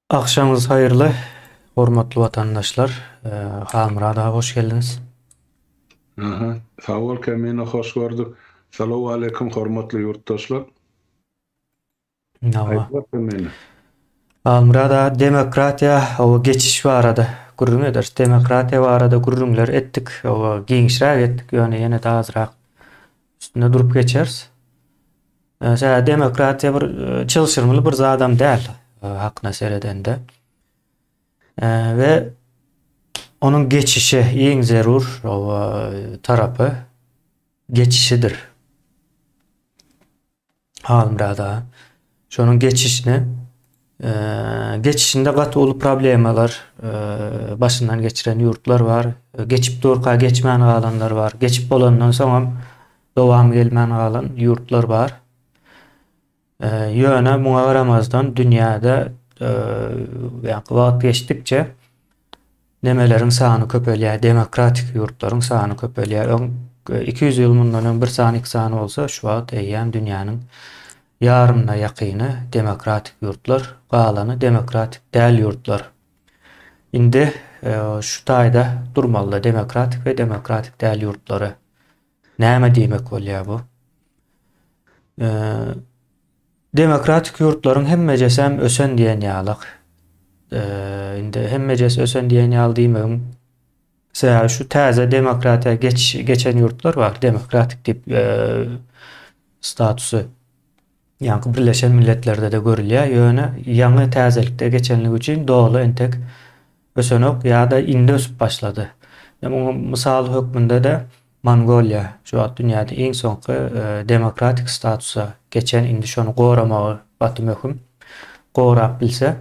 Agşamyňyz haýyrly, hormatly watandaşlar. Halmyrat aga hoş geldiňiz. Aha, sag bol Kemine, hoş gördük. Salawaleýkim, hormatly ýurtdaşlar. Aýt bak Kemine. Halmyrat aga, demokratiýa, oba geçiş barada gürrüň ederis. Demokratiýa barada gürrüňler etdik, oba giňişräk etdik, ýöne ýene-de azrak üstünde durup geçeris. Tä demokratiýa bir çylşyrymly bir zadam däl hakyna seredende. Ve onun geçişi en zerur tarafı geçişidir. Halmrada şonun geçişini geçişinde gaty uly problemalar başyndan geçiren ýurtlar bar. Geçip durka geçmän galanlar bar. Geçip bolandan soň hem dowamy gelmän galan ýurtlar bar. Ýöne muňa garamazdan dünýäde wagt geçdikçe Nemeleriň sany köpelýär, demokratik ýurtlaryň sany köpelýär. Öň iki ýüz ýyl mundan öň bir sany iki sany bolsa, şu wagt eýýäm dünýäniň ýarymyna ýakyny demokratik ýurtlar, galany demokratik däl ýurtlar. Indi şu taýda durmalyda demokratik we demokratik däl ýurtlary. Näme diýmek bolýar bu? Demokratik ýurtlaryň hemmejesem ösen diýen ýaly. Indi hemmejesi ösen diýen ýaly diýmegiň sebäbi şu täze demokratiýa geçişi geçen ýurtlar bar, demokratik diýip statusy Ýaňky Birleşen Milletlerde-de görülýär, ýöne ýaňy täzelikde geçenligi üçin doly entek ösenok ýa-da indi ösüp başlady. Ine, muňa mysal hökmünde-de Mongoliýa, şu wagt dünýäde iň soňky demokratik statusa geçen, indi şony goramagy gaty möhüm. Gorap bilse,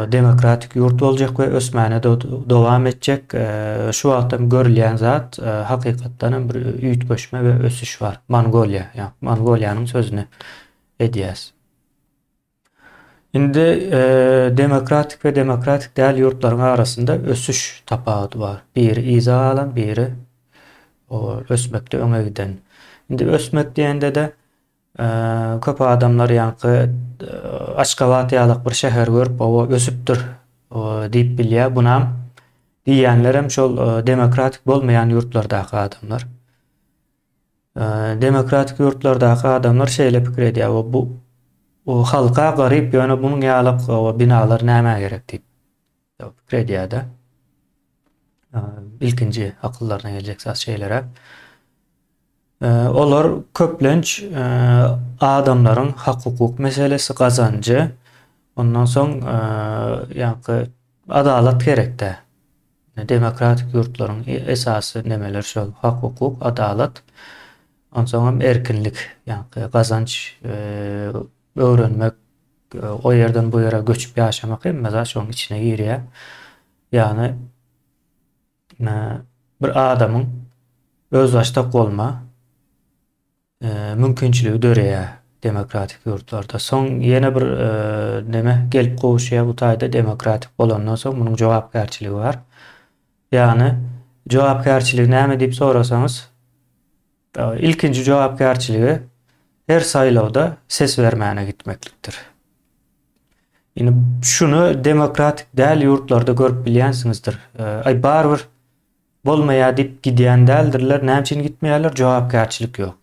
demokratik ýurt boljak we ösmäne dowam etjek. Şu wagtam görülýän zat hakykatdan hem bir üýtgeşme we ösüş bar. Mongoliýa, ýa Mongoliýanyň sözüni edýäs. Indi demokratik we demokratik däl ýurtlaryň arasynda ösüş tapawudy bar. Biri yza galan, biri ösmekde öňe giden. Indi ösmek diýende-de Köp adamlar ýaňky Aşgabat ýalak bir şäher görüp oba ösüpdir diýip bilýär. Bunam diýýänlerem şol demokratik bolmaýan ýurtlardaky adamlar. Demokratik ýurtlardaky adamlar şeýle pikir edýär, oba bu halka garyp ýöne bunuň ýalak oba binalar nämä gerek diýip. Ýa pikir edýär-de. Ilkinji akyllaryna geljek zat şeýleräk. Olar köplenç adamlaryň hak-hukuk meselesi, gazanjy, ondan soň ýa-da adalat gerek-dä. Demokratik ýurtlaryň esasy nemeleri şol, hak-hukuk, adalat, onsoňam erkinlik, ýa-da gazanç, öwrenmek, O ýerden bu ýere göçüp ýaşamak hemme zat şoň içine girýär. Ýagny bir adamyň özbaşdak bolma mümkinçiligi döreýär demokratik ýurtlarda. Soň ýene bir neme gelip gowuşýar bu taýda demokratik bolandan soň munuň jogapkärçiligi bar. Ýagny jogapkärçiligi näme diýip sorasaňyz Ilkinji jogapkärçiligi her saýlawda ses bermäne gitmeklikdir. Indi şuny demokratik däl ýurtlarda görüp bilýänsiňizdir. Aý barybir bolmaýar diýip gidýän däldirler, näme üçin gitmeýärler? Jogapkärçilik ýok.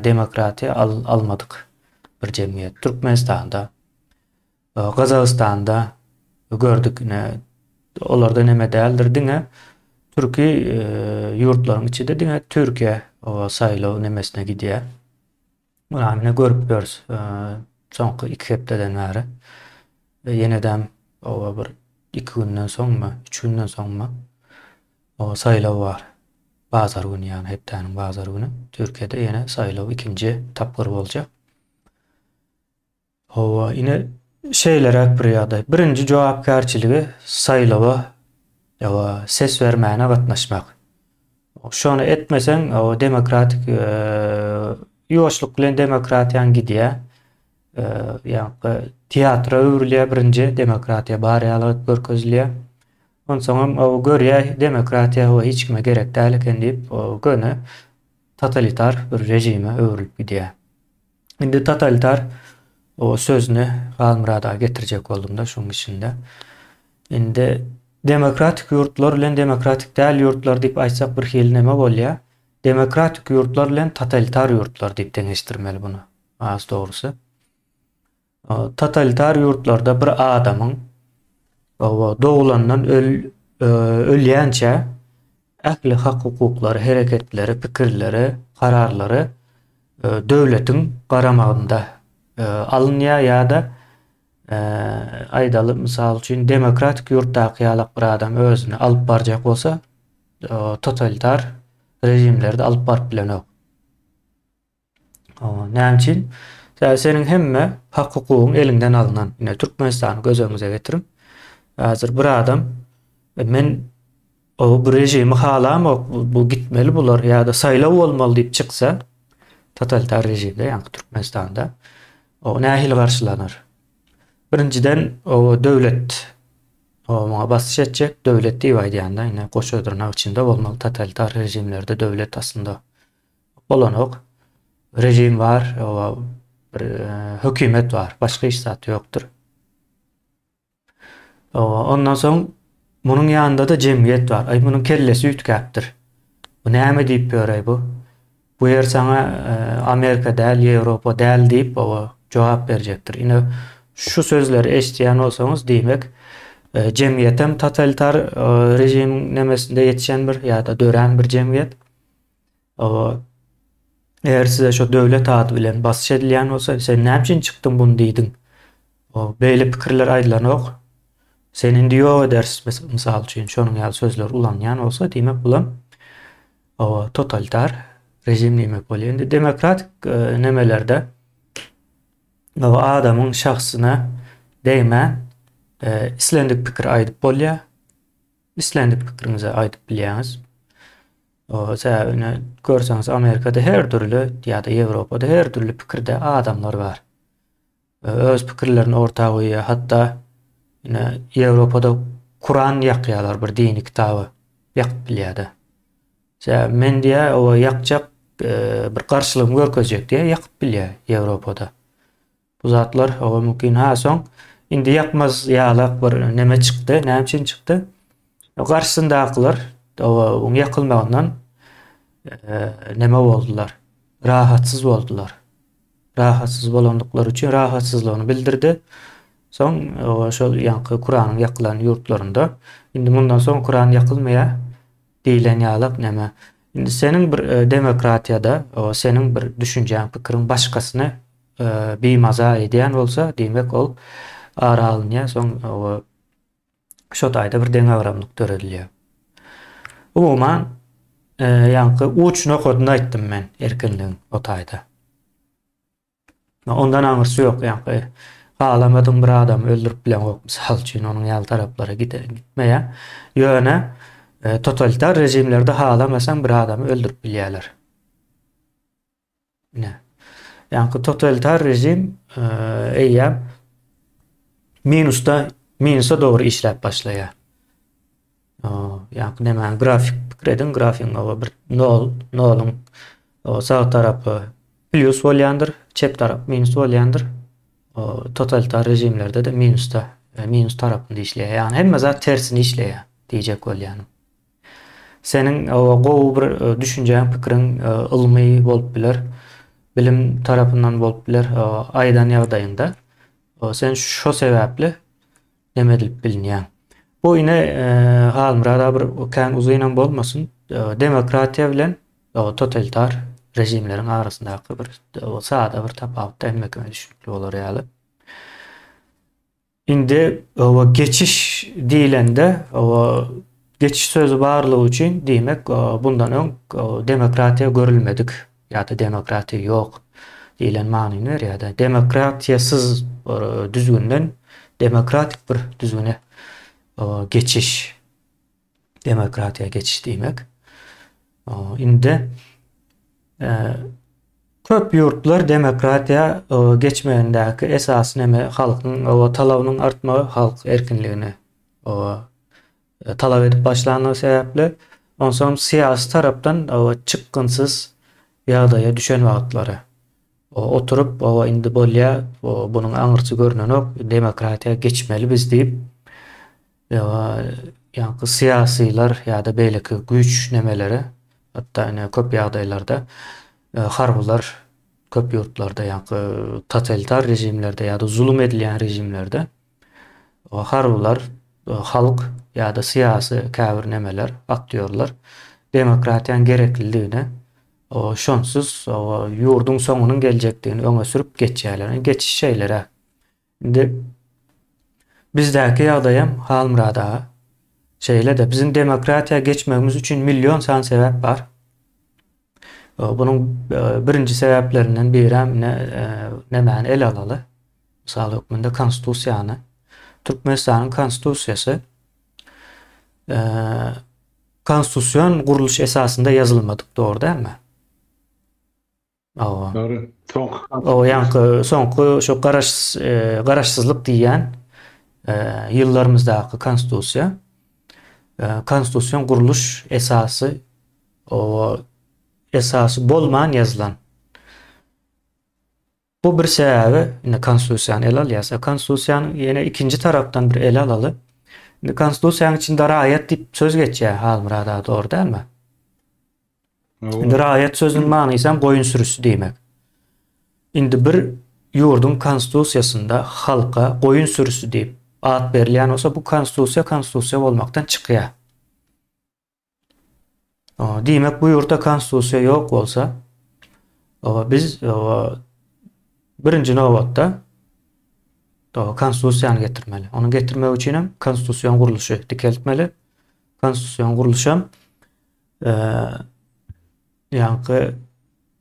Demokratiýa almadyk bir jemgyýet Türkmenistanda. Gazagystanda gördük ine olarda neme däldir diňe türki ýurtlaryň içinde diňe Türkiýe saýlaw nemesine gidýä. Muny ne görüp ýörüs soňky 2 hepdeden bäri. Ýenedem oba bir 2 günden soňmy, 3 günden soňmy o saýlaw bar. Bazar güni ýa hepdäniň bazar güni Türkiýede ýene saýlaw ikinji tapgyr boljak. Hawa, ine, şeýleräk bir ýagdaý. Birinji jogapkärçiligi saýlawa, hawa, ses bermäne gatnaşmak. Şony etmeseň, hawa, demokratik ýuwaşlyk bilen demokratiýaň gidýär. Ýa-da teatra öwrülýär birinji, demokratiýa bar ýalyk görkezilýär. Onsoňam, hawa, görýär, demokratiýa, hawa, hiç kime gerek däl eken diýip, köne totalitar bir režime öwrülip gidýär. Indi totalitar o sözüni Halmyrada getirjek boldum-da şoň içinde. Indi demokratik ýurtlar bilen demokratik däl ýurtlar diýip aýtsak bir hili näme bolýar? Demokratik ýurtlar bilen totalitar ýurtlar diýip deňeşdirmeli bunu, has dogrusy. Totalitar ýurtlarda bir adamyň doglandan ölýänçä ähli hak-hukuklary, hereketleri, pikirleri, kararlary döwletiň garamagynda alynýar ýa-da aýdaly mysal üçin demokratik ýurtdaky ýalak bir adam özüni alyp barjak bolsa totalitar režimlerde alyp baryp bilenok. Näme üçin? Sebäbi seniň hemme hak-hukugyň eliňden alnan. Ine, Türkmenistany göz öňüňize getiriň. Häzir bir adam, e, men o bu režimi halamok, bu, bu gitmeli bular ýa-da saýlaw bolmaly diýip çyksa, totalitar režimde, ýagny Türkmenistanda, o nähili garşylanar? Birinjiden, o döwlet o muňa basyş etjek, döwlet diýip aýdýan-da, ine, goşa dyrnak içinde bolmaly totalitar režimlerde döwlet aslynda Bolanok. Rejim bar, oba bir hökümet bar. Başga hiç zat ýokdur. Oba ondan soň munuň ýanynda-da jemgyýet bar. Aý munuň kellesi üýtgäpdir. Bu näme diýip ýöräý bu? Bu ýer saňa Amerika däl, Ýewropa däl diýip, oba jogap berjekdir. Ine şu sözleri eşidýän bolsaňyz, diýmek, jemgyýetem totalitar rejimiň nemesinde ýetişen bir ýa-da dörän bir jemgyýet. Eger size şo döwlet ady bilen basyş edilýän bolsa, sen näme üçin çykdyň muny diýdiň? Beýle pikirler aýdylanok. Seni indi ýok ederis, mysal üçin, şonuň ýaly sözler ulanýan bolsa, diýmek bulam totalitar režim diýmek bolýar. Indi demokratik e, nemelerde adamyň şahsyna degmän e, islendik pikir aýdyp bolýar. Islendik pikiriňizi aýdyp bilýäňiz. Sebäbi indi görseňiz Amerikada her dürli ýa-da Ýewropada her dürli pikirde adamlar bar. Öz pikirlerini orta goýýar. Hatda indi Ýewropada Kuran ýakýarlar bir dini kitaby ýakyp bilýär-de. Sebäbi men diýýär, oba ýakjak bir garşylygymy görkezjek diýýär, ýakyp bilýär Ýewropada. Bu zatlar hawa mümkin. Ha soň indi ýakmaz ýalak bir neme çykdy. Näme üçin çykdy? Garşysyndakylar hawa oň ýakylmagyndan neme boldular. Rahatsyz boldular. Rahatsyz bolandyklary üçin rahatsyzlygyny bildirdi. Soň şol ýaňky Kuranyň ýakylan ýurtlarynda indi mundan soň Kuran ýakylmaýar. Diýlen ýalak näme? Indi seniň bir demokratiýada seniň bir düşünjäň, pikiriň başgasyny bimaza edýän bolsa, diýmek ol ara alynýar, soň şo taýda bir deňagramlyk döredilýär. Umuman, ýaňky uç nokadyny aýtdym men erkinligiň o taýda. Ondan aňyrsy ýok, ýaňky halamadyň bir adamy öldürip bileňok, mysal üçin, onuň ýaly taraplara giderin gitmeýär. Ýöne totalitar režimlerde halamasaň bir adamy öldürip bilýärler. Ine. Ýaňky totalitar režim eýýäm minusda, minusa dogry işläp başlaýar. Ýa-da nämäň grafik pikir ediň, grafigiň oba bir nol, noluň sag tarapy plyus bolýandyr, çep tarap minus bolýandyr. Totalitar režimlerde-de minusda, e, minus tarapynda işleýär. Ýagny hemme zat tersine işleýär diýjek bolýan. Seniň oba gowy bir e, düşünjäň, pikiriň e, ylmy bolup biler, bilim tarapyndan bolup biler, aýdan ýagdaýyňda. Sen şo sebäpli Neme edilip bilinýär? Bu ine Halmyrad Abyr kän uzynam bolmasyn, demokratiýa bilen totalitar režimleriň arasyndaky bir sada bir tapawutda hemmekime düşnükli bolar ýaly. Indi owa geçiş diýlende, owa geçiş sözi barlygy üçin diýmek bundan öň demokratiýa görülmedik Ýa-da demokratiýa ýok diýlen manyny berýär-de. Demokratiýasyz düzgünden demokratik bir düzgüne geçiş, demokratiýa geçiş diýmek. Indi köp ýurtlar demokratiýa geçmegindäki esasy neme, halkyň talabynyň artmagy, halk erkinligine talap edip başlandygy sebäpli, onsoňam syýasy tarapdan çykgynsyz ýagdaýa düşen wagtlary, oturyp, Hawa, indi bolýa, bunuň aňyrsy görnenok, demokratiýa geçmeli biz diýip, ýaňky syýasylar ýa-da beýleki güýçlemeleri, hatda ine köp ýagdaýlarda harbylar köp ýurtlarda ýaňky totalitar režimlerde ýa-da zulum edilýän režimlerde, harbylar, halk ýa-da syýasy käbir nemeler, aktýorlar demokratiýanyň gereklidigini, şonsuz ýurduň soňunyň geljekdigini öňe sürüp geçýärler. Indi geçiş şeýle-dä. Indi bizdäki ýagdaýam Halmyrat aga şeýle-de. Biziň demokratiýa geçmegimiz üçin million sany sebäp bar. Bunuň birinji sebäplerinden biräm ine nemäni ele alaly. Mysal hökmünde Konstitusiýany. Türkmenistanyň Konstitusiýasy konstitusion gurluş esasynda ýazylmadyk, dogry dälmi? Hawa. Dogry. Soňky ýaňky soňky şu garaş garaşsyzlyk diýýän ýyllarymyzdaky konstitusiýa konstitusion gurluş esasy o esasy bolman ýazylan. Bu bir sebäbi, indi konstitusiýany ele alýarsa, konstitusiýanyň ýene ikinji tarapdan bir ele alaly. Indi konstitusiýanyň içinde raýat diýip söz geçýär, Halmyrat aga, dogry dälmi? Indi raýat sözüniň manysy hem goýun sürüsi diýmek. Indi bir ýurduň konstitusiýasynda halka goýun sürüsi diýip at berilýän bolsa, bu konstitusiýa konstitusiýa bolmakdan çykýar. Diýmek, bu ýurtda konstitusiýa ýok bolsa, biz birinji nobatda konstitusiýany getirmeli. Ony getirmek üçin hem konstitusion gurluşy dikeltmeli. Konstitusion gurluş hem ýaňky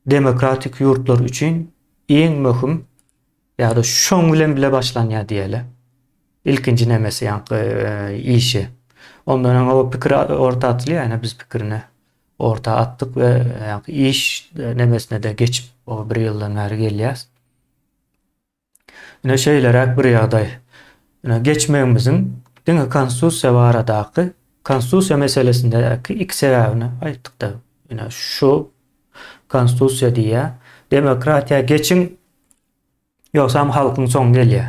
demokratik ýurtlar üçin iň möhüm Ýa-da şoň bilen bile başlanýar diýeli. Ilkinji nemesi ýaňky işi. Ondan öň o pikir orta atylýar, ýa-da biz pikirini orta atdyk we ýaňky iş nemesine-de geçip, o bir ýyldan bäri gelýäs. Ine şeýleräk bir ýagdaý. Ine geçmegimiziň diňe Konstitusiýa baradaky, Konstitusiýa meselesindäki iki sebäbini aýtdyk-da. Ine şu Konstitusiýa diýýär, demokratiýa geçiň, Ýogsam halkyň soň gelýä.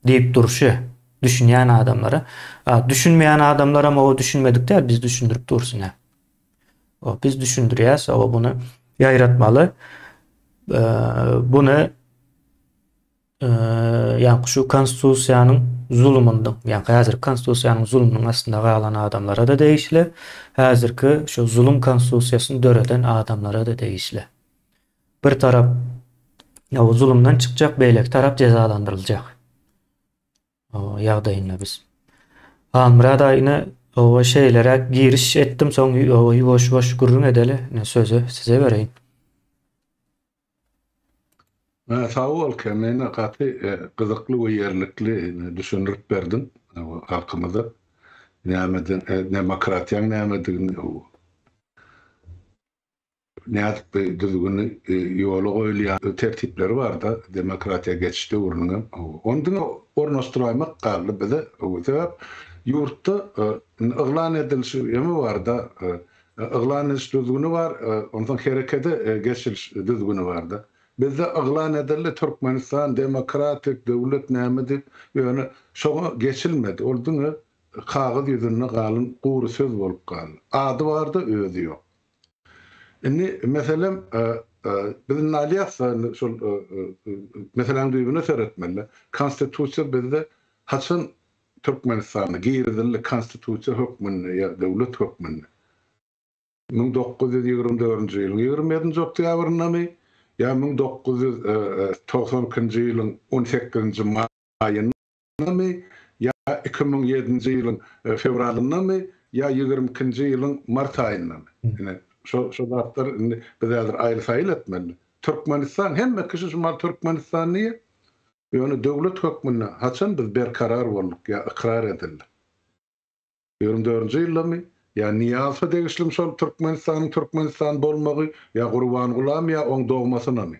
Diýip durşy düşünýän adamlara. A düşünmeýän adamlaram oba düşünmedik däl biz düşündirip dursun a. O biz düşündirýäs oba bunu ýaýratmaly. Bunu ýa şu konstitusiýanyň zulumynyň, ýa häzir konstitusiýanyň zulumynyň astynda galan adamlara da degişli. Häzirki şu zulum konstitusiýasyny döreden adamlara da degişli. Bir tarap ýa zulumdan çykjak, beýleki tarap jezalandyryljak ýagdaýynda biz. Halmyrat aýna owa şeýleräk giriş etdim, soň owa ýuwaş-ýuwaş gürrüň edeli, ine sözi size bereýin. Sag bol Kemine gaty gyzykly we ýerlikli düşündirip berdiň halkymyza näme demokratiýaň nämedigini. Nädip bir düzgüni ýola goýulýar, tertipleri barda demokratiýa geçiş döwrüniňem. Ony diňe ornaşdyraýmak galdy bize. Sebäp ýurtda yglan ediliş ýeme barda, yglan ediş düzgüni bar, onsoň herekede geçiliş düzgüni barda. Bizde yglan edildi, Türkmenistan demokratik döwlet näme diýip, ýöne şoňa geçilmedi. Ol diňe Kagyz ýüzünde galyň gury söz bolup galdy. Ady bar-da, özi ýok. Indi, meselem, biz indi alýas-da, indi şol meseläň düýbüne seretmeli-dä. Konstitusiýa bizde haçan Türkmenistanda girizildi, konstitusiýa hökmünde ýa döwlet hökmünde? Müň dokuz ýüz ýigrimi dördünji ýylyň ýigrimi ýedinji oktýabrynamy ýa müň dokuz ýüz togsan ikinji ýylyň on sekizinji maýynda? ýylyndanmy ýa iki müň ýedinji ýylyň fewralyndanmy ýa ýigrimi ikinji ýylyň mart aýyndamy. Ine, şo, şo zatlar indi biz häzir aýyl-saýyl etmeli. Türkmenistan, hemme kişi şu mahaly Türkmenistan diýýär. Ýöne döwlet hökmünde haçan biz berkarar bolduk ýa ykrar edildik? Ýigrimi dördünji ýyldamy ýa Nyýazowa degişlimi şol Türkmenistanyň Türkmenistan bolmagy ýa Gurbangulam ýa oň dogmasynamy?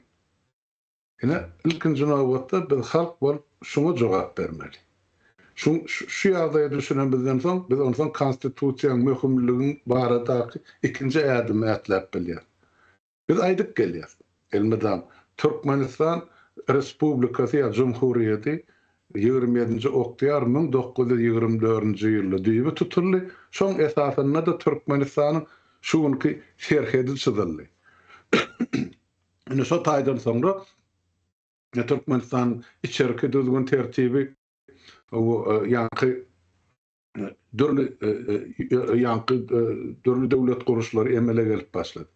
Ine, ilkinji nobatda biz halk bolup şuňa jogap bermeli. Şu ýagdaýa düşünemizden soň, biz onsoň Konstitusiýanyň möhümligi baradaky ikinji ädimi ätläp bilýäris. Biz aýdyp gelýäris, elmydam, Türkmenistan Respublikasy ýa Jumhuriýeti ýigrimi ýedinji oktýabr müň dokuz ýüz ýigrimi dördünji ýylda düýbi tutuldy, şoň esasynda-da Türkmenistanyň şu günki serhedi çyzyldy. Indi şo taýdan soňra Türkmenistanyň içerki düzgün-tertibi ýaňky dürli ýaňky dürli döwlet guruşlary emele gelip başlady.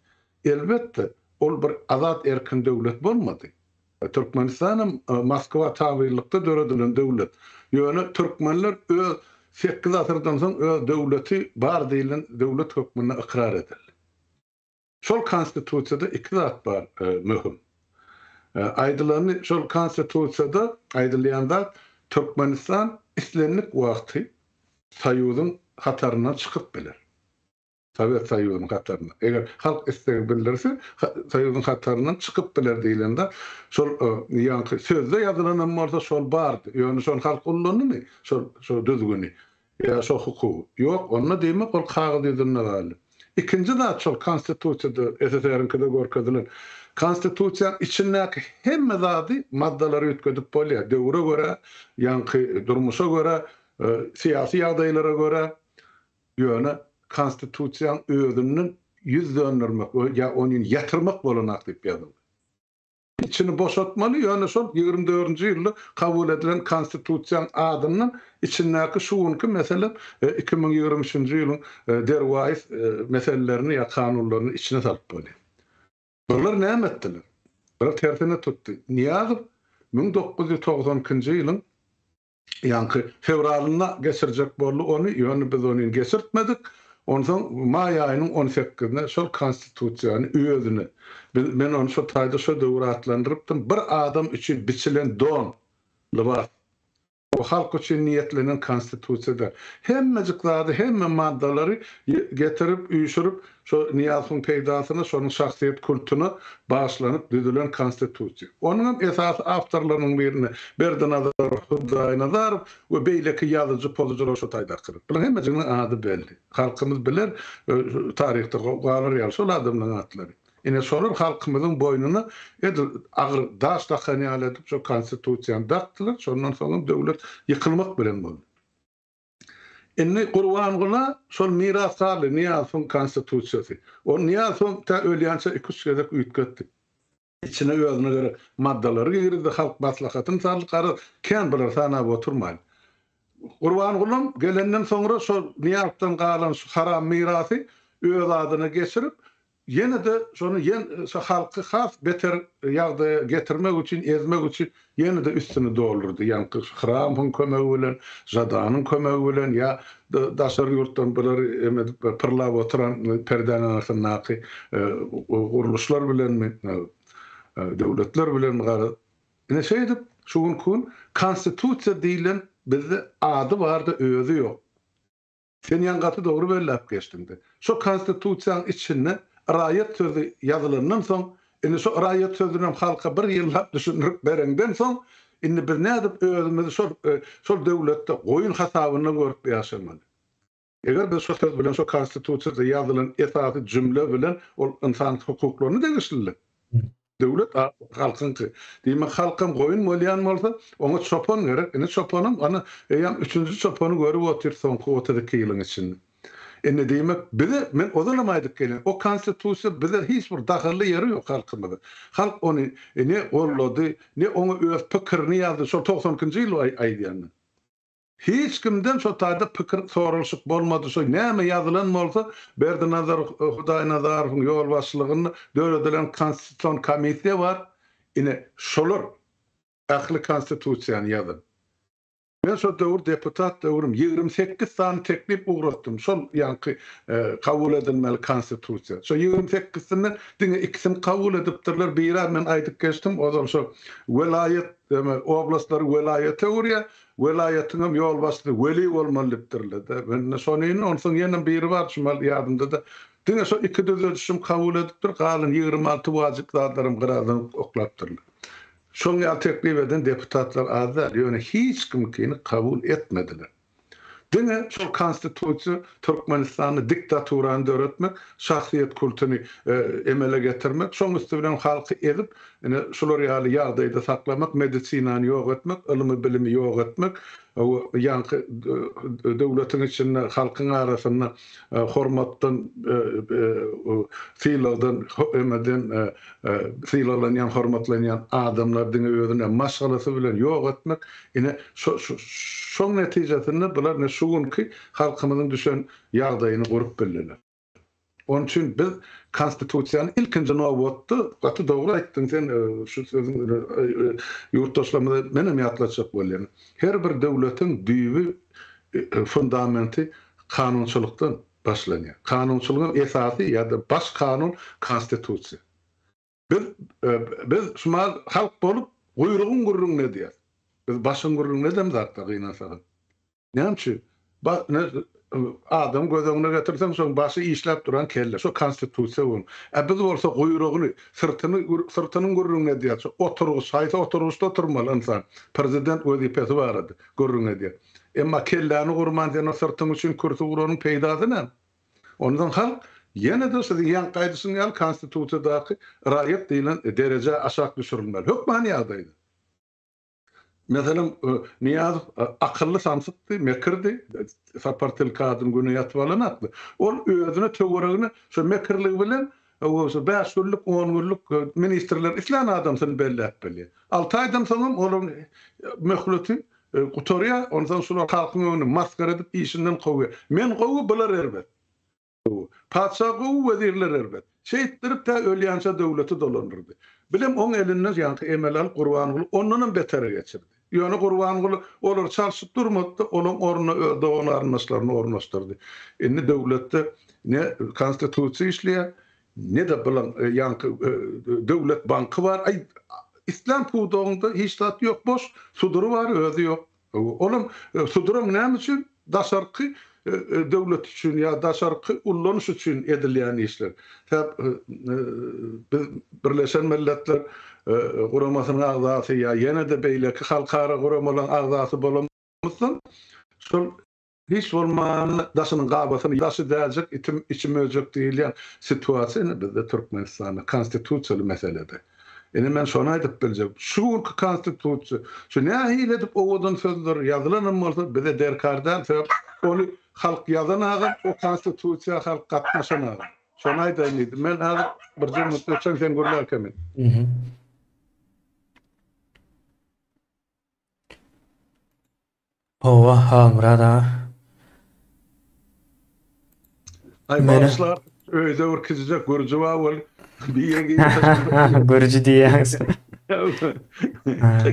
Elbetde, ol bir azat-erkin döwlet bolmady. Türkmenistanam Moskwa tabynlykda döredilen döwlet. Ýöne türkmenler öz sekiz asyrdan soň öz döwleti bar diýlen döwlet hökmünde ykrar edildi. Şol Konstitusiýada iki zat bar möhüm. Aýdylany şol Konstitusiýada aýdylýan zat Türkmenistan islendik wagty Soýuzyň hataryndan çykyp biler. Sowet Soýuzynyň hataryndan. Eger halk isleg bildirse, Soýuzyň hataryndan çykyp biler diýlen zat. Şol ýaňky sözde ýazylan hem bolsa şol bardy. Ýöne şony halk ullandymy? Şol düzgüni. Ýa şo hukugy. Ýok, onda diýmek ol kagyz ýüzünde galdy. Ikinji zat şol Konstitusiýada, SSR-iňkide görkezilen. Konstitusiýanyň içindäki hemme zady, maddalary üýtgedip bolýar. Döwre görä, ýaňky durmuşa görä, syýasy ýagdaýlara görä. Ýöne Konstitusiýanyň özünden ýüz döndermek ýa ony ýatyrmak bolanok diýip ýazyldy. Içini boşatmaly, ýöne şol ýigrimi dördünji ýylda kabul edilen Konstitusiýaň adyndan içindäki şu günki meselem iki müň ýigrimi üçünji ýylyň derwaýys meselelerini ýa kanunlaryny içine salyp bolýar. Bular näme etdiler? Bular tersine tutdy. Nyýazow müň dokuz ýüz togsan ikinji ýylyň Ýaňky fewralynda geçirjek boldy ony, ýöne biz ony geçirtmedik. Onsoň maý aýynyň on sekizine şol Konstitusiýany özüne, biz, men ony şo taýda şo döwür atlandyrypdym, bir adam üçin biçilen don, lybas. Bu halk üçin niýetlenen Konstitusiýa däl. Hemmejik zady, hemme maddalary getirip, üýşürip, Şo Nyýazowyň peýdasyna şonuň şahsyýet kultyna bagyşlanyp düzülen Konstitusiýa. Onuňam esasy awtorlarynyň birini Berdinazar Hudaýnazarow we beýleki ýazyjy pozujular şo taýdakydyr. Bularyň hemmejiginiň ady belli. Halkymyz biler, taryhda galar ýaly şol adamlaryň atlary. Ine, şolar halkymyzyň boýnuna edil agyr daş dakan ýaly edip şo Konstitusiýany dakdylar, şondan soňam döwlet ýykylmak bilen boldy. Indi Gurbangula şol mirasdardy, Nyýazowyň konstitusiýasy. Ony Nyýazow tä ölýänçä iki-üç gezek üýtgetdi. Içine özüne gerek maddalary girizdi, halk maslahatyny saldy, garaz, kän bular sanap oturmaýyn. Gurbangulam gelenden soňra şol Nyýazdan galan şu haram mirasy öz adyna geçirip, Ýene-de şony ýen şu halky has beter ýagdaýa getirmek üçin, ezmek üçin ýene-de üstüni doldurdy. Ýaňky şu Hramyň kömegi bilen, Žadanyň kömegi bilen ýa daşary ýurtdan bulary em edip we pyrlap oturan perdäniň aňyrsyndaky gurluşlar bilenmi, döwletler bilenmi garaz, ine şeýdip şu günki gün Konstitusiýa diýlen bizde ady bar-da özi ýok. Sen ýan gaty dogry belläp geçdiňde. Şo konstitusiýaň içinde raýat sözi ýazylandan soň, indi şo raýat sözünem halka bir ýyllap düşündirip bereňden soň, indi biz nädip özümizi şol şol döwletde goýun hasabynda görüp ýaşamaly? Eger biz şo söz bilen şo konstitusiýada ýazylan esasy jümle bilen ol ynsan hukuklaryna degişlilik. Döwlet halkyňky. Diýmek, halkam goýun bolýan bolsa, oňa çopan gerek. Indi çopanam, ana, eýýäm üçünji çopany görüp otyr soňky otuz iki ýylyň içinde. Indi, diýmek, bize, men ozalam aýdyp gelýän, o Konstitusiýa bize hiç bir dahylly ýeri ýok halkymyzyň. Halk ony ne goldady, ne oňa öz pikirini ýazdy, şol togsan ikinji ýyl aýdýan men. Hiç kimden şo taýda pikir soralyşyk bolmady, şo näme ýazylan bolsa, Berdinazar Hudaýnazarowyň ýolbaşçylygynda döredilen konstitusion komissiýa bar, ine, şolar ähli konstitusiýany ýazan. Men şo döwür deputat döwrüm ýigrimi sekiz sany teklip ugratdym, şol ýaňky kabul edilmeli konstitusiýa. Şo ýigrimi sekizsinden diňe ikisini kabul edipdirler, biri-ä men aýdyp geçdim, ozal şo welaýat, oblastlar welaýata öwürýär, Welaýatyňam ýolbaşçysy Weli bolmaly dipdirlede. Mende şonyn, onsoň ýenem biri bar şumal ýadymdada. Diňe şo iki düzedişim kabul edipdir, galan ýigrimi alty wajyp zatlaram gyradan oklapdyrlar. Şoň ýaly teklip eden deputatlar az däl, ýöne hiç kimkini kabul etmediler. Diňe şol Konstitusiýa Türkmenistanda diktaturany döretmek, şahsyýet kultuny emele getirmek, şoň üsti bilen halky ezip, ine, şular ýaly ýagdaýda saklamak, medisinany ýok etmek, ylmy-bilimi ýok etmek, ýaňky döwletiň içinde halkyň arasynda hormatdan, sylagdan, emeden sylaglanýan, hormatlanýan adamlary diňe özüne maşgalasy bilen ýok etmek, ine, şoň netijesinde bular şu günki halkymyzyň düşen ýagdaýyny görüp bildiler. Onuň üçin biz Konstitusiýany ilkinji nobatda, gaty dogry aýtdyň sen şu sözüň ýurtdaşlarymyza menem ýatlatjak bolýan. Her bir döwletiň düýbi, fundamenti kanunçylykdan başlanýar. Kanunçylygyň esasy ýa-da baş kanun Konstitusiýa. Biz, biz şumal halk bolup, guýrugyň gürrüňini edýäs. Biz başyň gürrüňini edemz hakda gynansaňyz. Näme üçin? Ba, ne, adamy göz öňüne getirseň, şoň başy işläp duran kelle, şo Konstitusiýa bolan. Ä biz bolsa guýrugyny, syrtyny, syrtynyň gürrüňini edýäs. Şo oturgyç, haýsy oturgyçda oturmaly ynsan, prezident wezipesi barada gürrüň edýär. Emma kelläni gurman, sen o syrtyň üçin kürsi guranyň peýdasy näme? Onsoň halk ýene-de siziň ýaňky aýdyşyň ýaly Konstitusiýadaky raýat diýlen derejä aşak düşürilmeli. Hökmany ýagdaýda, meselem, Nyýazow akylly samsykdy, mekirdi, Sapar tilkadyň güni ýatyp alanakdy. Ol özüne töweregine şo mekirligi bilen Öwgüsiz, bäş günlük, on günlük ministrler islän adamsyny belläp bilýär. Alty aýdan soňam olaryň möhleti gutarýar, onsoň şular halkyň öňünde masgara edip işinden kowýar. Men gowy, bular erbet. Patyşa gowy, wezirler erbet. Şeýtdirip tä ölýänçä döwleti dolandyrdy. Bilem oň elinden ýaňky emeli alyp Gurbanguly ondanam betere geçirdi. Ýöne Gurbanguly olary çalşyp durmady-da, olaň ornuna öz dogan-garyndaşlaryny ornaşdyrdy. Indi döwletde ne Konstitusiýa işleýär, ne-de bilaň ýaňky Döwlet banky bar. Aý, islän pudagyňda hiç zat ýok, boş. Sudury bar, özi ýok. Olam, suduram näme üçin? Daşarky döwlet üçin ýa daşarky ullanyş üçin edilýän işler. Sebäp biz Birleşen Milletler Guramasynyň agzasy ýa ýene-de beýleki halkara guramalaryň agzasy bolanymyzdan şol hiç bolmanda daşynyň gabasyny daşy däljek itim içi möjek diýilýän situasiýa indi bizde Türkmenistanda konstitusiýaly meselede. Ine men şony aýdyp biljek. Şu günki konstitusiýa, şu nähili edip owadan sözler ýazylanam bolsa bize derkar däl, sebäp ony halk ýazan agam, o konstitusiýa halk gatnaşan agam. Şony aýdaýyn diýdim. Men häzir birje minut geçen sen gürläkä men. Howwa Halmyrat aga. Aý bagyşla öýde bir kiçijek gürji bar bol diýen gibi. Gürji diýýäňiz.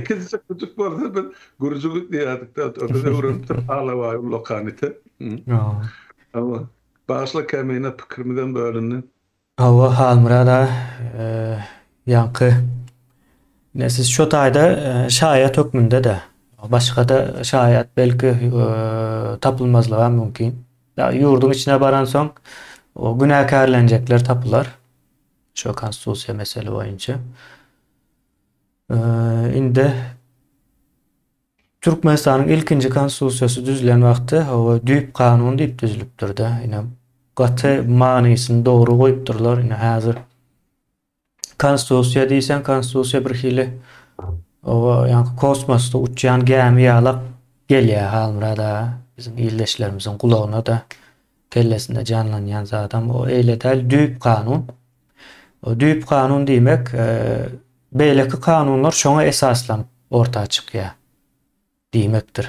Kiçijek gürjik bolsa biz gürji diýerdik-de oturyp öwrenipdir alabaý ullakanite. Bagyşla kämine pikirimizem bölündi. Hawa Halmyrat aga ýaňky ine siz şo taýda şaýat hökmünde-de başga-da şaýat belki tapylmazlygam mümkin. Ýa ýurduň içine baransoň o günäkärlenjekler tapylar. Şo konstitusiýa mesele boýunça. Indi Türkmenistanyň ilkinji konstitusiýasy düzülen wagty hawa düýp kanun diýip düzülipdirde ine gaty manysyny dogry goýupdyrlar ine häzir konstitusiýa diýseň konstitusiýa bir hili oba ýaňky kosmosda uçýan gämi ýalak gelýär Halmyrat aga biziň ildeşlerimiziň gulagyna da Kellesinde janlanýan zadam o eýle däl düýp kanun. O düýp kanun diýmek beýleki kanunlar şoňa esaslanyp orta çykýar diýmekdir.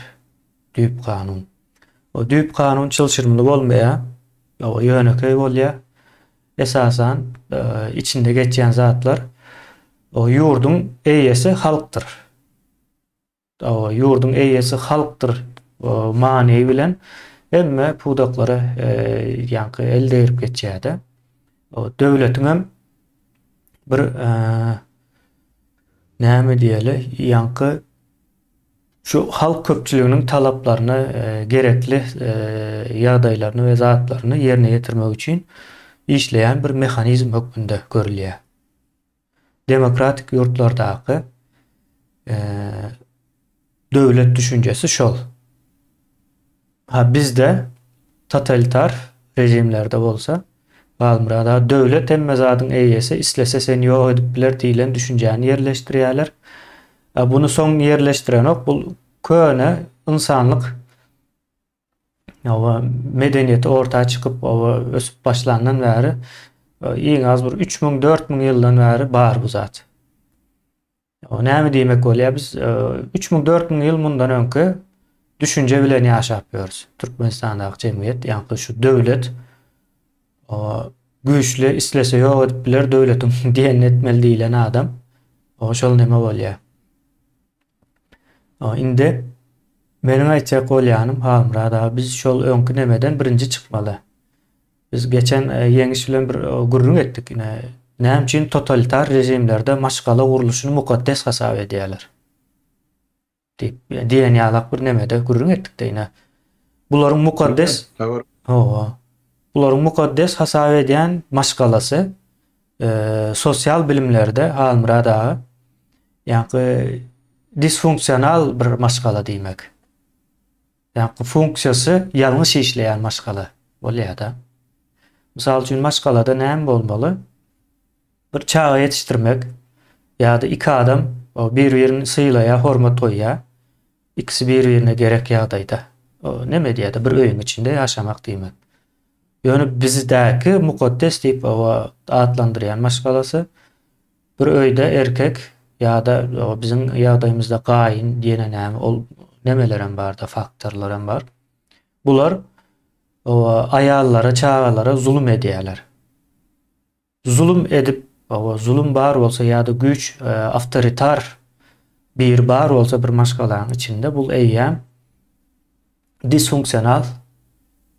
Düýp kanun. O düýp kanun çylşyrymly bolmaýar. O ýönekeý bolýar. Esasan içinde geçýän zatlar o ýurduň eýesi halkdyr. Dawa, ýurduň eýesi halkdyr many bilen hemme pudaklary ýaňky el degirip geçýärdi. Döwletiň hem bir näme diýeli, ýaňky şu halk köpçüliginiň talaplaryny, gerekli ýagdaýlaryny we zatlaryny ýerine ýetirmek üçin işleýän bir mehanizm hökmünde görülýär. Demokratik ýurtlardaky döwlet düşünjesi şol. Ha bizde totalitar režimlerde bolsa Galmyrada döwlet hemme zadyň eýesi, islese seni ýok edip biler diýlen düşünjäni ýerleşdirýärler. Buny soň ýerleşdirenok, bu köne ynsanlyk oba medeniýeti orta çykyp oba ösüp başlandan bäri e, iň az bir üç müň dört müň ýyldan bäri bar bu zat näme diýmek bolýar biz e, üç müň dört müň ýyl mundan öňki düşünje bilen ýaşap ýörüs türkmenistandaky jemgyýet ýa şu döwlet güýçli islese ýok edip biler döwletiň diýenini etmeli diýilen adam o şol neme bolýar Indi meniň aýtjak bolýanym Halmyrat aga biz şol öňki nemeden birinji çykmaly. Biz geçen e, ýeňiş bilen bir e, gürrüň etdik ine. Näme üçin totalitar režimlerde maşgala gurluşyny mukaddes hasap edýärler? diýip, e, diýen ýalak bir nemede gürrüň etdik de ine. Bularyň mukaddes Hawa. Bularyň mukaddes hasap edýän maşgalasy Sosial bilimlerde Halmyrat aga ýaňky disfunksional bir maşgala diýmek. Ýaňky funksiýasy ýalňyş işleýän maşgala bolýar-da. Mysal üçin maşgalada näme bolmaly? Bir çaga ýetişdirmek ýa-da iki adam bir-birini sylaýar, hormat goýýar. Ikisi bir-birine gerek ýagdaýda. Neme diýýär-de bir öýüň içinde ýaşamak diýmek. Ýöne bizdäki mukaddes diýip atlandyrýan maşgalasy, bir öýde erkek ýa-da biziň ýagdaýymyzda gaýyn diýene näme, ol nemelerem bar-da, faktorlarem bar. Bular aýallara, çagalara zulum edýärler. Zulum edip, oba, zulum bar bolsa ýa-da güýç, awtoritar biri bar bolsa bir maşgalaň içinde, bul eýýäm disfunksional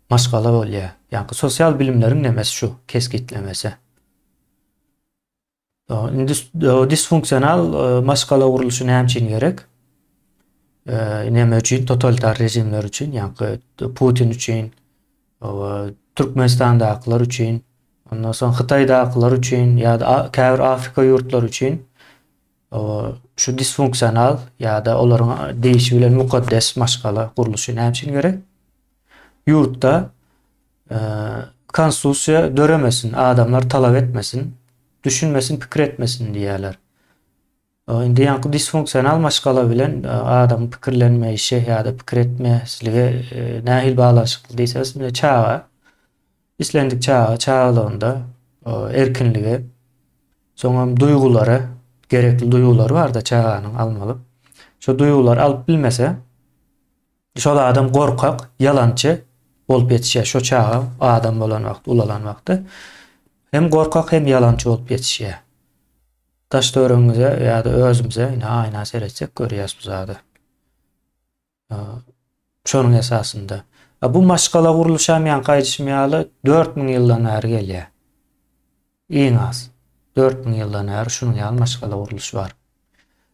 maşgala bolýar. Ýaňky sosial bilimleriň nemesi şu, kesgitlemesi. Indi disfunksional maşgala gurluşy näme üçin gerek? Näme üçin totalitar režimler üçin, ýaňky Putin üçin, Türkmenistandakylar üçin, ondan soň Hytaýdakylar üçin ýa-da käbir Afrika ýurtlary üçin şu disfunksional ýa-da olaryň diýişi bilen mukaddes maşgala gurluşy näme üçin gerek? Ýurtda konstitusiýa döremesin, adamlar talap etmesin, düşünmesin, pikir etmesin diýýärler. Indi ýaňky disfunksional maşgala bilen adamyň pikirlenmeýşi ýa-da pikir etmezligi nähili baglanyşykly diýseňiz, indi çaga, islendik çaga çagalygynda erkinligi, soňam duýgulary, gerekli duýgulary bar-da çaganyň almaly. Şo duýgulary alyp bilmese, şol adam gorkak, ýalançy bolup ýetişýär. Şo çaga adam bolan wagty, ulalan wagty hem gorkak, hem ýalançy bolup ýetişýär. Daş-töweregiňize ýa-da özümize indi aýna seretsek görýäs bu zady. Şonuň esasynda. A bu maşgala gurluşam ýaňky aýdyşym ýaly 4000 ýyldan bäri gelýär. Iň az 4000 ýyldan bäri şunuň ýaly maşgala gurluşy bar.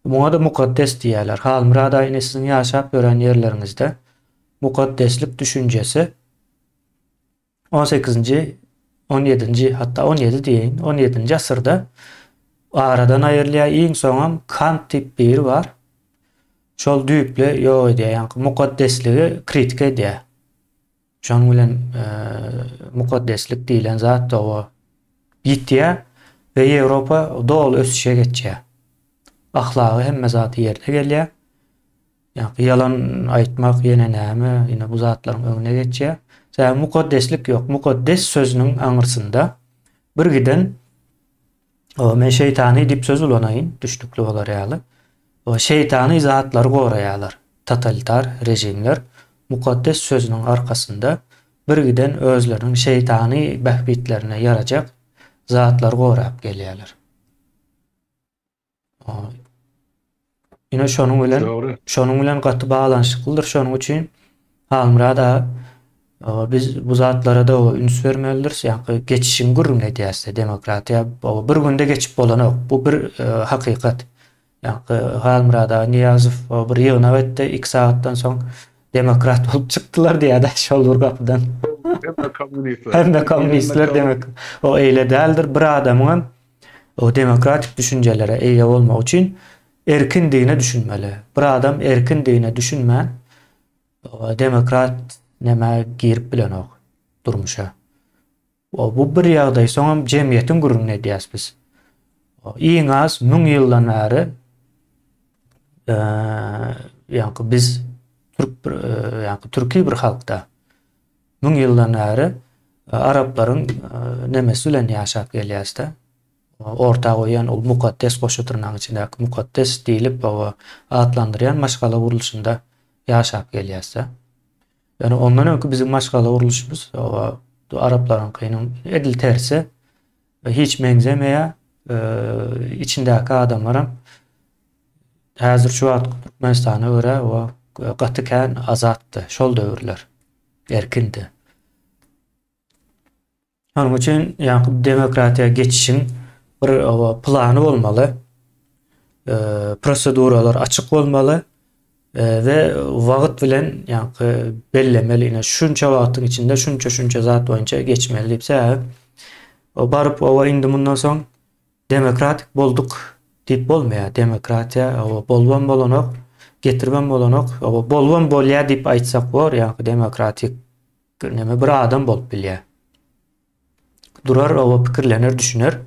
Muňa-da mukaddes diýýärler. Halmyrat aýny siziň ýaşap ýören ýerleriňizde mukaddeslik düşünjesi On sekizinji, on ýedinji, hatda on ýedi diýeýin, on ýedinji asyrda aradan aýrylýar, iň soňam Kant diýip biri bar. Şol düýpli ýok edýär, ýaňky mukaddesligi kritika edýär. Şonuň bilen e, mukaddeslik diýilen zat doga ýitýär we Ýewropa doly ösüşe geçýär. Ahlagy hemme zady ýerine gelýär. Ýa-ki ýalan aýtmak ýene näme? Ine bu zatlaryň öňüne geçýär. Sebäbi mukaddeslik ýok. Mukaddes sözüniň aňyrsynda birgiden o men şeýtany diýip söz ulanaýyn, düşnükli bolar ýaly. O şeýtany zatlary goraýarlar. Totalitar režimler mukaddes sözüniň arkasynda birgiden özleriniň şeýtany bähbitlerine ýarajak zatlary gorap gelýärler. Ine şonuň bilen Dogry. şonuň bilen gaty baglanyşyklydyr. Şonuň üçin Halmyrat aga e, biz bu zatlara da üns bermelidiris. Ýa geçişiň gürrüňini edýäris-de, demokratiýa bu bir günde geçip bolanok. Bu bir e, hakykat. Ýa Halmyrat aga Niýazow o, bir ýygnak etdi, iki sagatdan soň demokrat bolup çykdylar diýýär-de şol bir gapydan. Hem de kommunistler. Hem de kommunistler demek. O eýle däldir. Bir adamyň hem O demokratik düşünjelere eýe bolmak üçin erkin dine düşünmeli. Bir adam erkin dine düşünmän demokrat nämä girip bilenok durmuşa. O bu bir ýagdaý, soňam jemgyýetiň gürrüňini edýäs biz. O iň az 1000 ýyldan bäri eee ýa biz türk bir ýa türki bir halkda. Müň ýyldan bäri araplaryň nemes bilen ýaşap gelýäs-de. Orta goýýan ol mukaddes goşa-dyrnagyň içindäki mukaddes diýlip oba atlandyrýan maşgala gurluşynda ýaşap gelýäs-de. Ýöne ondan öňki biziň maşgala gurluşymyz oba araplaryňkynyň edil tersi. Hiç meňzemeýär. Içindäki adamlaram häzir şu wagtky Türkmenistana görä o gaty kän azatdy. Şol döwürler erkindi. Şonuň üçin ýaňky demokratiýa geçişiň bir plany bolmaly. Proseduralar açyk bolmaly. We wagyt bilen ýaňky bellemeli ine şunça wagtyň içinde şunça şunça zat boýunça geçmeli diýip sebäbi o baryp owa indi mundan soň demokratik bolduk diýip bolmaýar demokratiýa owa bolubam bolanok getiribem bolanok owa bolubam bolýar diýip aýtsak bor ýaňky demokratik neme bir adam bolup bilýär. Durar oba pikirlener düşüner.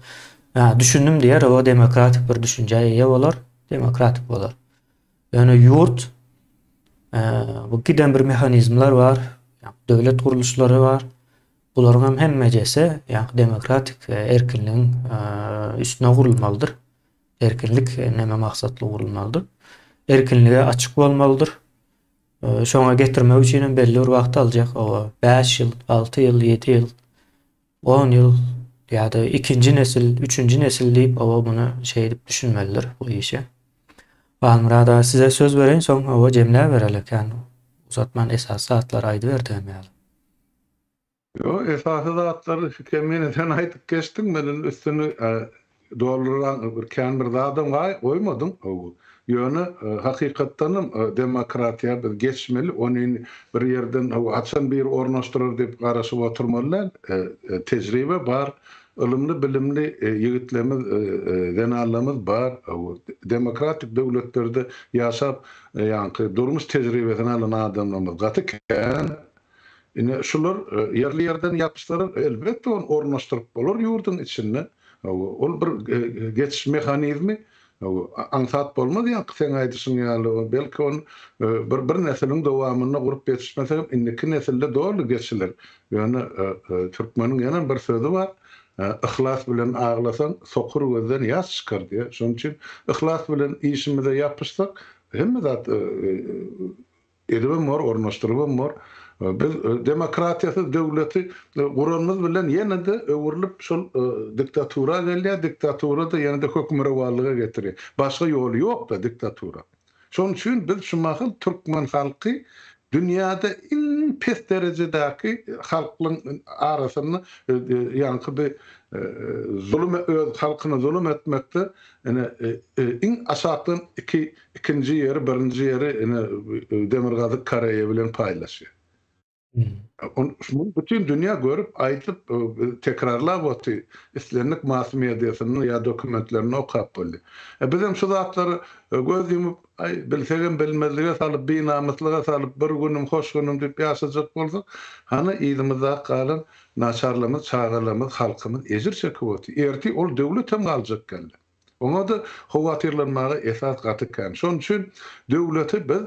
Hä, düşündim diýer, oba demokratik bir düşünjä eýe bolar, demokratik bolar. Ýöne ýurt bu giden bir mehanizmler bar, döwlet gurluşlary bar. Bularyň hem hemmejesi ýa-da demokratik erkinligiň üstüne gurulmalydyr. Erkinlik näme maksatly gurulmalydyr? Erkinlige açyk bolmalydyr. Şoňa getirmek üçin hem belli bir wagt aljak. Oba, 5 ýyl, 6 ýyl, 7 ýyl, 10 ýyl ýa-da ikinji nesil, üçünji nesil diýip oba muny şeýdip düşünmelidir bu işe. Halmyrat aga size söz bereýin, soň oba jemläp bereli kän uzatman esasy zatlary aýdyberdi hem ýaly. Ýo, esasy zatlary Hikemine sen aýdyp geçdiň, men indi üstüni dolduran bir kän bir zadam goýmadym. Ýöne, hakykatdanam, demokratiýa biz geçmeli, ony indi bir ýerden haçan biri ornaşdyrar diýip garaşyp oturmaly däl. Tejribe bar, ylymly-bilimli ýigitlerimiz, zenanlarymyz bar. Demokratik döwletlerde ýaşap, ýaňky durmuş tejribesini alan adamlarymyz gaty kän. Ine, şular ýerli-ýerden ýapyşdylar. Elbetde, ony ornaşdyryp bolar ýurduň içinde. Ol bir geçiş mehanizmi. Aňsat bolmaz ýaňky seň aýdyşyň ýaly. Belki, ony bir nesiliň dowamynda gurup ýetişmese hem, indiki nesilde doly geçiler. Ýöne türkmeniň ýene bir sözi bar, Yhlas bilen aglasaň, sokur gözden ýaş çykar diýýär. Şonuň üçin yhlas bilen işimize ýapyşsak, hemme zat Edibem bor, ornaşdyrybam bor. Biz demokratiýasyz döwleti guranymyz bilen ýene-de öwrülip şol diktatura gelýär, diktatura-da ýene-de hökmürowanlyga getirýär. Başga ýoly ýok-da diktatura. Şonuň üçin biz şu mahal türkmen halky dünýäde iň pes derejedäki halklaryň arasynda ýaňky bi zulum öz halkyna zulum etmekde ine iň aşakdan iki Ikinji ýeri, birinji ýeri ine Demirgazyk Koreýa bilen paýlaşýar. Muny bütin dünýä görüp, aýdyp, tekrarlap oty, islendik mass mediasynda ýa dokumentlerinde okap boldy. E bizem şu zatlary göz ýumup, aý, bilsegem bilmezlige salyp, binamyslyga salyp, bir günüm, hoş günüm diýip ýaşajak bolsak, hany yzymyzda galan naçarlarymyz, çagalarymyz, halkymyz ejir çekip otyr. Ertir ol döwletem galjak geldi. Oňa-da howatyrlanmaga esas gaty kän. Şonuň üçin döwleti biz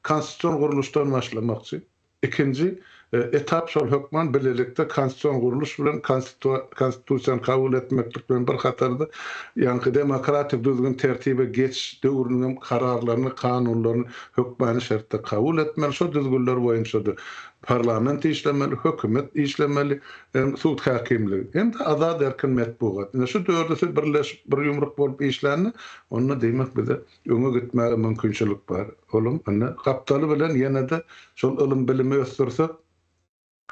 konstitusion gurluşdan başlamakçy. Ikinji etap şol hökman bilelikde konstitusion gurluş bilen konstitusiýany kabul etmeklik bilen bir hatarda, ýaňky demokratik düzgün-tertibe geçiş döwrüniň hem kararlaryny, kanunlaryny hökmany şertde kabul etmeli. Şo düzgünler boýunça-da parlament işlemeli, hökümet işlemeli. hem sud häkimligi, hem-de azat erkin metbugat, ine şu dördüsi birleşip bir ýumruk bolup işlände, onda diýmek bize öňe gitmäge mümkinçilik bar. Olam indi gapdaly bilen ýene-de şol ylym-bilimi ösdürsek,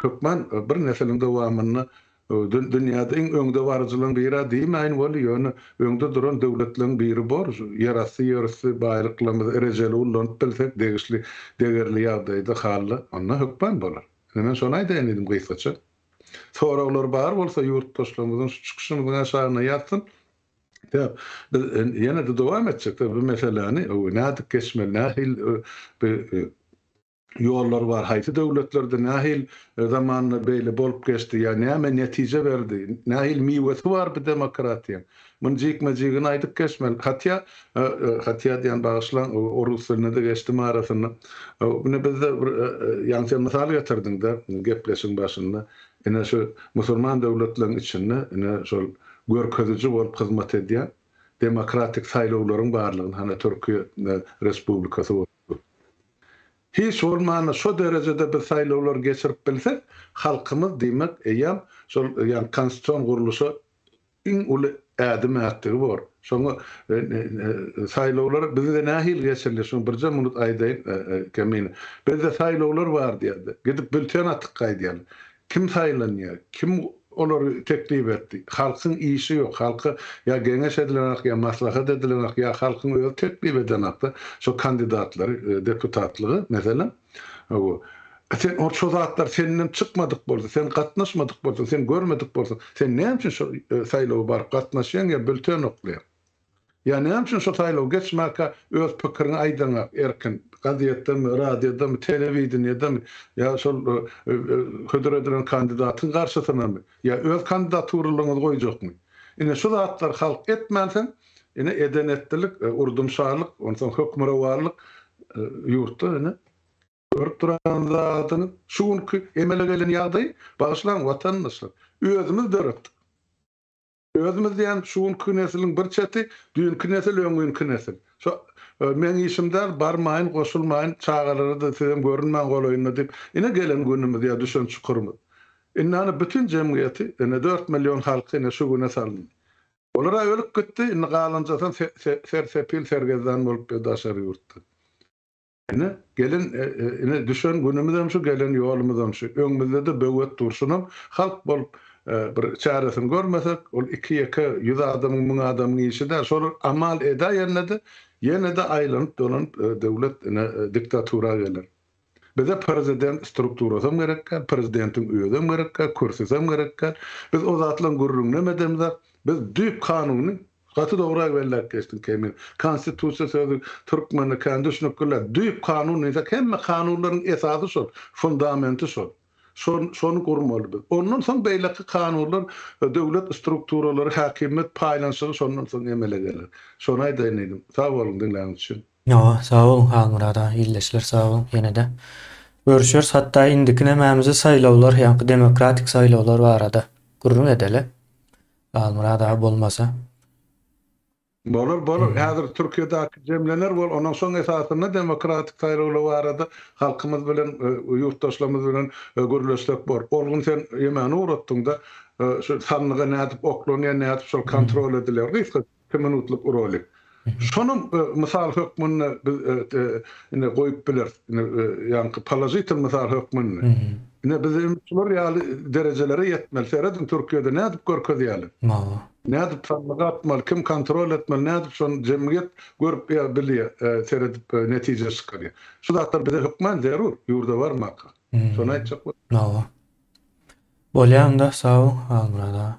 hökman bir nesiliň dowamynda dünýäde iň öňdebaryjylaryň biri-ä diýmäýin weli, ýöne öňde duran döwletleriň biri bor. Ýerasty, ýerüsti baýlyklarymyzy rejeli ullanyp bilsek, degişli degerli ýagdaýda, hally, onda hökman bolar. Indi men şony aýdaýyn diýdim gysgaça. Soraglary bar bolsa ýurtdaşlarymyzyň şu çykyşymyzyň aşagyna ýazsyn. Sebäp biz ýene-de dowam etjek bu meseläni nädip geçmeli, nähil ýollar bar, haýsy döwletlerde nähil zamanda beýle bolup geçdi ýa näme netije berdi, nähil miwesi bar bu demokratiýaň. Muny jikme-jigine aýdyp geçmeli. Hatýa, hatýa diýýän, bagyşlaň, orus dilinde-de geçdim arasynda. Ine, bizde bir, ýagny sen mysal getirdiň-de gepleşigiň başynda. Ine, şu musulman döwletleriň içinde, ine, şol görkeziji bolup hyzmat edýän demokratik saýlawlaryň barlygyny, hany, Türkiýe Respublikasy bolupdyr. Hiç bolmanda şo derejede biz saýlawlary geçirip bilsek, halkymyz, diýmek, eýýäm şol, ýagny konstitusion gurluşa iň uly ädim ätdigi bor. Şoňa saýlawlar bizde nähili geçirilýär, şuny birje munut aýdaýyn Kemin. Bizde saýlawlar bar diýerdi. Gidip bülten atyp gaýdýarlar. Kim saýlanýar? Kim olary teklip etdi? Halkyň işi ýok. Halka ýa geňeş edilenak, ýa maslahat edilenak, ýa halkyň özi teklip edenak-da şo kandidatlary deputatlyga, meselem. Hawa, sen ol şo zatlar senden çykmadyk bolsa, sen gatnaşmadyk bolsaň, sen görmedik bolsaň, sen näme üçin şo saýlawa baryp gatnaşýaň ýa bülten oklaýaň? Ýa näme üçin şo saýlawy geçmäkä öz pikiriňi aýdaňa erkin, gazetdemi, radiodamy, telewideniýedemi ýa şol hödür edilen kandidatyň garşysynamy ýa öz kandidaturalygyňyzy goýjakmy? Ine şu zatlar halk etmänsoň, Ine edenetdilik, urdumşarlyk, onsoň hökmürowanlyk ýurtda ine görüp duran zadyňyz. Şu günki emele gelen ýagdaýy bagyşlaň watandaşlar. Özümiz döretdik. Özümiz diýen şu günki nesliň bir çeti düýnki nesil öňňinki nesil. Şo meň işim däl barmaýyn goşulmaýyn çagalara-da sizem görünmäň golaýynda diýip ine gelen günümiz ýa düşen çukurymyz. Indi ana bütin jemgyýeti ine dört million halky ine şu güne salyndy. Olar-a ölüp gitdi, indi galanjasam sersepil, sergezdan bolupdyr daşary ýurtda. Ine, gelen, ine, düşen günümizem şu, gelen ýolumyzam şu. Öňümizde-de böwet dur. Şunam halk bolup bir çäresini görmesek, ol iki-ýeke ýüz adamyň, müň adamyň işi däl. Şolar amal edäýende-de, ýene-de aýlanyp-dolanyp döwlet, ine, diktatura geler. Bize prezident strukturasam gerekkä, prezidentiň özem gerekkä, kürsüsem gerekkä. Biz o zatlaryň gürrüňinem edemizok. Biz düýp kanuny, gaty dogry belläp geçdiň Kemil. Konstitusiýa sözi türkmende kän düşnükliler. Düýp kanun diýsek, hemme kanunlaryň esasy şol, fundamenti şol. Şol, şony gurmaly biz. Ondan soň beýleki kanunlar, döwlet strukturalary, häkimiýet paýlanyşygy şondan soň emele geler. Şony aýdaýyn diýdim. Sag boluň diňläniň üçin. Hawa, sag boluň Halmyrat aga, ildeşler sag boluň ýene-de görüşeris, hatda indiki nämämizi saýlawlar, ýaňky demokratik saýlawlar barada gürrüň edeli, Halmyrat aga bolmasa. Bolar, bolar, häzir Türkiýedäki jemlener bol, ondan soň esasynda demokratik saýlawlar barada halkymyz bilen, ýurtdaşlarymyz bilen gürleşsek bor. Ol gün sen ýemeni ugratdyň-da, şu sandyga nädip oklanýar, nädip şol kontrol edilýär, gysgaça. Iki minutlyk rolik. Şonuň mysal hökmünde biz ine goýup bileris. Ine ýaňky položitel mysal hökmünde. Ine biz hem şular ýaly derejelere ýetmeli. Serediň Türkiýede nädip görkezýärler. Wah. Nädip sandyga atmaly, kim kontrol etmeli, nädip şony jemgyýet görüp ýa bilýär, seredip netije çykarýar. Şu zatlar bize hökman zerur, ýurda barmaka. Şony aýtjak boldum. Wah. Bolýa onda, sag bol Halmyrat aga.